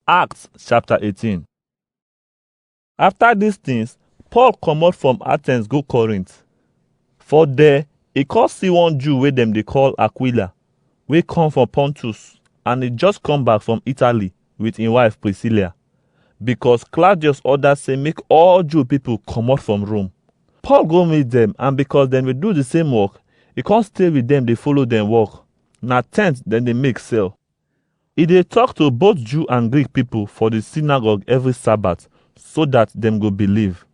Acts chapter 18 After these things, Paul comot from Athens go Corinth. For there, e come see one Jew wey dem dey call Aquila, wey come from Pontus, and e just come back from Italy with im wife Priscilla, because Claudius order say make all Jew people comot from Rome. Paul go meet dem, and because dem dey do the same work, e come stay with dem dey follow dem work. Na tent dem dey make sell. E dey tok to both Jew and Greek pipo for di synagogue every Sabbath, so dat dem go believe.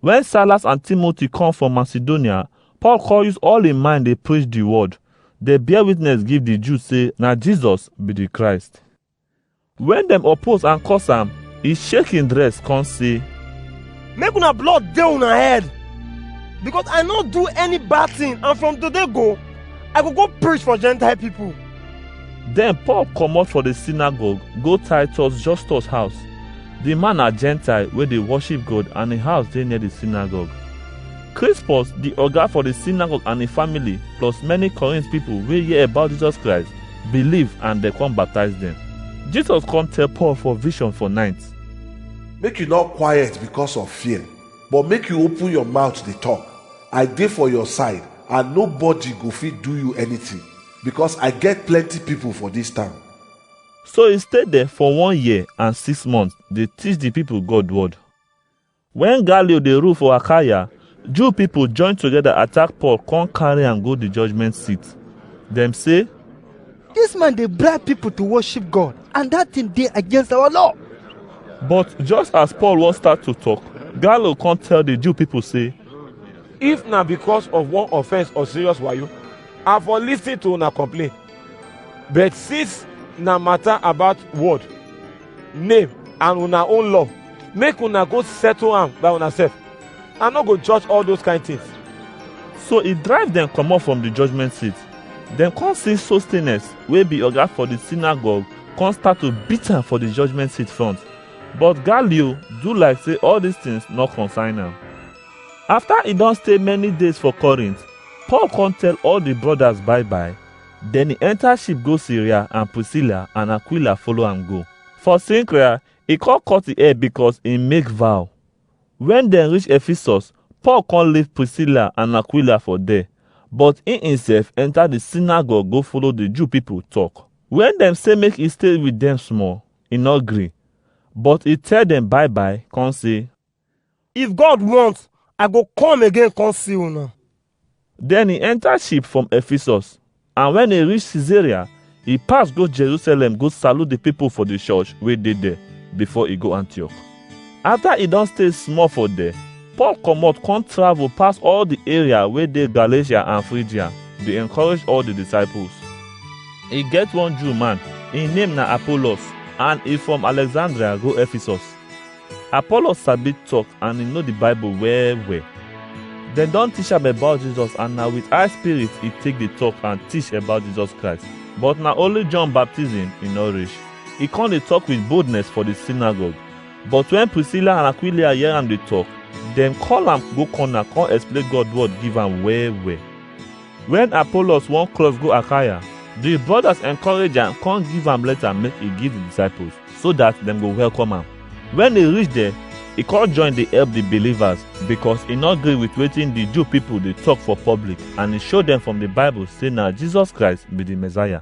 Wen Silas and Timothy come from Macedonia, Paul come use all im mind dey preach di word, dey bear witness give di Jews say na Jesus be di Christ. Wen dem oppose and curse am, e shake im dress come say, Make una blood dey una head, because I no do any bad thing and from today go, I go go preach for Gentile pipo. Then Paul comot for the synagogue go Titus Justus house. The man na Gentile wey dey worship God and him house dey near the synagogue. Crispus, the oga for the synagogue and him family, plus many Corinth people wey hear about Jesus Christ, believe and dem come baptize dem. Jesus come tell Paul for vision for night. make you not quiet because of fear but make you open your mouth dey talk i dey for your side and nobody go fit do you anything Because I get plenty people for this town. So he stayed there for one year and six months. They teach the people God word. When Gallio dey rule for Achaia, Jew people join together attack Paul, come carry am go the judgment seat. Dem say, This man dey bribe people to worship God, and that thing dey against our law. But just as Paul wan start to talk, Gallio come tell the Jew people say, If na because of one offense or serious wayo, I for listen to una complain. But since na matter about word, name and una own love, make una go settle am by una sef. I no go judge all those kind things. So he drive dem comot from the judgment seat. Dem come see Sostenes wey be oga for the synagogue come start to beat am for the judgment seat front. But Galio do like say all these things no concern am. After he don stay many days for Corinth, Paul come tell all the brothers bye bye. Then he enter ship go Syria and Priscilla and Aquila follow am go. For Cenchrea, he come cut the hair because he make vow. When dem reach Ephesus, Paul come leave Priscilla and Aquila for there, but he himself enter the synagogue go follow the Jew people talk. When dem say make he stay with them small, he no gree, but he tell them bye bye, come say, If God want, I go come again come see una. Then he enter ship from Ephesus, and when he reach Caesarea, he pass go Jerusalem go salute the people for the church wey dey there before he go Antioch. After he don stay small for there, Paul comot come travel pass all the area wey dey Galatia and Phrygia, dey encourage all the disciples. E get one Jew man, im name na Apollos, and e from Alexandria go Ephesus. Apollos sabi talk and he know the Bible well well. Dem don teach am about Jesus and na with high spirit he take dey talk and teach about Jesus Christ. But na only John baptism he no reach. He come dey talk with boldness for the synagogue. But when Priscilla and Aquila hear am dey talk, dem call am go corner come explain God word give am well well. Wen Apollos wan cross go Akaya, di brodas enkorage am kon give am leta make e give di disciples, so dat dem go welkom am. Wen e rish der, e kon join dey elp di bilivas, bikos e nor gri wit wetin di Ju pipol dey tok for poblik and e show dem from di Bible sey na Jisos Krais bi di Messiah.